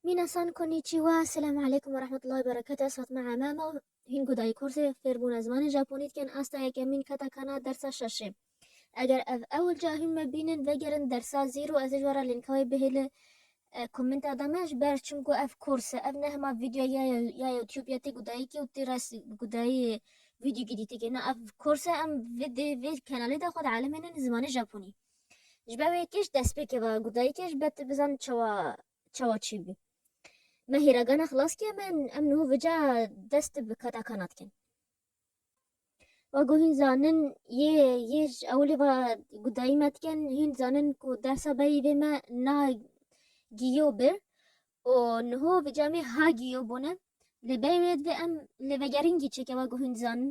Minasan konnichiwa, selam aleykum ve rahmetullahi berekete ez Fatma Amama û hîn gudayî kursê fêrbûna zimanê Japonî dikin asta yekemîn keta kana dersa şeşê. Eger ev ewil ca hîn me bînin vegerin dersa zîro ez ê ji wara lînka wê bihê li komenta de me ji ber çimku ev kurs e ev ne hema vîdyo ya ya YouTube ya tê gudayîkê û tê res gudayî vîdyo gîdîtêkê na ev kurs e em vê dê vê kenalê de xwe dielîmînin zimanê Japonî. Ji ber wê kêş dest pê keva ku dayikê ji ber tu bizan çawa çawa çî bû. Me hêragana xilas kir me em niho vica dest tu bi kata kana dikin. Wego hîn zanin yê yê ji ewilê ve ku dayî me dikin hîn zanin ku dersa berî vê me na giyo bir û niho vica me ha giyo bûne lê berî wê divê em lêvegerîngî çêke wego hîn zanin.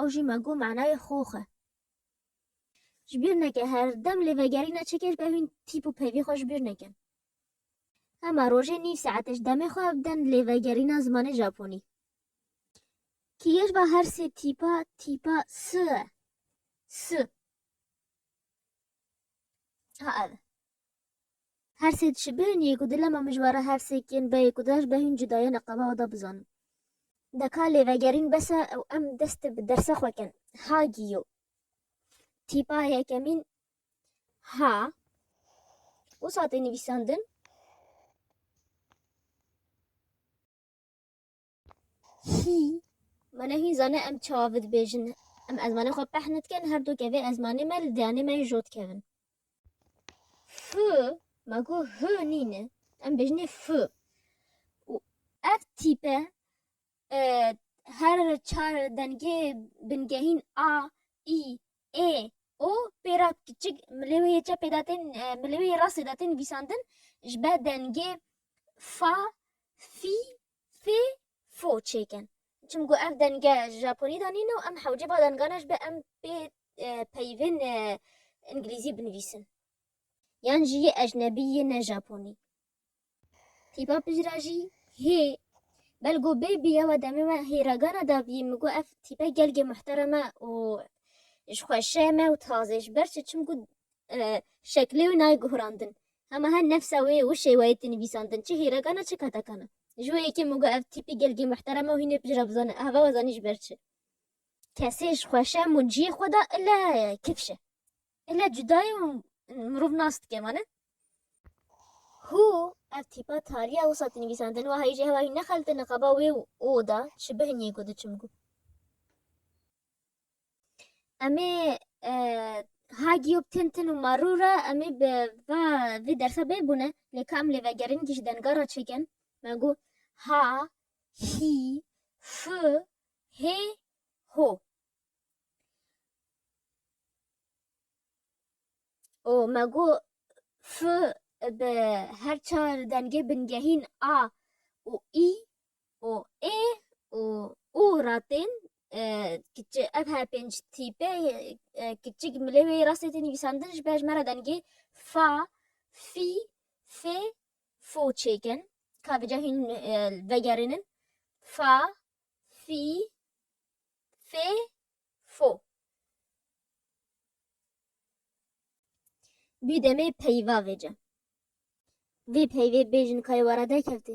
Ew jî me got manayê xox e. Ji bîr neke her dem lê vegerîna çekê ji ber hûn tîp û pevî xwe ji bîr nekin. Hema rojê nîv saetê ji demê xwe bidin lê vegerîna zimanê Japonî. Kîyej ba her sê tîpa tîpa S e. S. Ha ev e. Hersê dişê bêhn yê ku dilema mijwara hersê kên beyê ku daj be hîn cuda ye li qaba da bizanin. Deka lêvegerîn bes e û em dest bi dersa xwe kin. Ha giyo. Tîpa yekemîn ha. Wisa tê nivîsandin? Hî, mane hîn zane em çawa vi dibêjin. Em ezmanê xwe peh nedikin, her dû ke vê ezmanê me li diyanê me jî jo dikevin. Fi, ma ku hi nîne, em bêjinê fi. Û ev tîpe e, her çar dengê bingehîn a, î, ê, o pêra kiçik milê wê yê çepê de tên e, milê wê yê rastê de tên vîsandin ji ber dengê fa, fî Fê fo çêkin. Çim ku ev denge ji Japonî de nîn û em hewce ba dengane ji be em pê peyvên îngilîzî binivîsin. Yan jî yê ecnebî yê ne Japonî. Tîpa pijra jî hê. Belgo bê bî yewa demê me hê ragana dabî min got ev tîpe gelgê muhterem e û jixweşe me û tazê ji ber çi çim ku şeklê wî nayê guhrandin. Hema her nefsa wê û şêweyê tê nivîsandin çi hîrekan e çi katekan e. Ji wê yekê min got ev tîpî gelgî muhterem e û hînê pijra bizane ev heval zanî ji ber çi. Kesê ji xweşem û ciyê xwe de ile kifş e. Ile cuda ye û mirov nas dike vane. Hû ev tîpa taliya wisa tê nivîsandin wahayî jî hewa wî nexelte niqaba wê û oda çi bihinîyê ku diçim ku. Emê e, ha giyop tin tin û marû re emê bi va vê dersa bê bûne lê ka em lê vegerin kî ji denga re çêkin me gu ha hî fi hê ho û me gu fi bi her çar dengê bingehîn a û î û ê û û ratên kiçi ev her pênc tîpe kiçik milê wê rastê tê nivîsandin ji ber ji me re dengê fa, fî, fê, fo çêkin ka vêca hîn vegerînin fa, fî, fê, fo. Bî demê peyva vêce. Vê peyvê bêjin kayê we re derkevtî.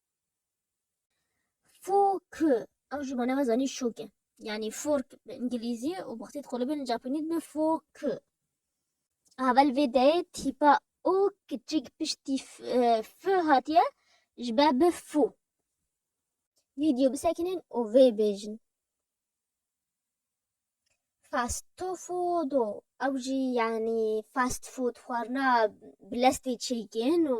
Fork. Ew ji bo nava zanî şok e. Yani fork bi îngilîzî û bi xwedî dixwelibin li Japonî dibe fork. Avel vê deyê tîpa û kiçik piştî f hatiye ji ber bi fû. Vîdeo bisekinin û vê bêjin. Fast food û ew jî yanî fast food xwarina bi lestê çêkin û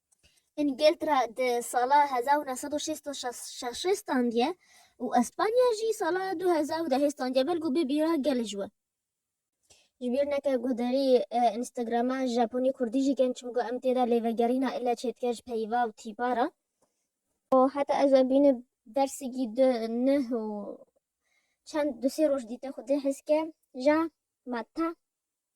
Îngiltera di sala hezar û neh sed û şêst û şeş standiye û Espanya jî sala du hezar û dehê standiye ber ku bibîra gelê ji we. Ji bîr neke guhdarî Instagrama Japonî Kurdî jî ken çimku em tê de lê vegerîna île çê dike ji peyva û tîpa re. Heta ez we bînim bersigî du nih û çend du sê roj dîte xwedî hes ke ja ma ta.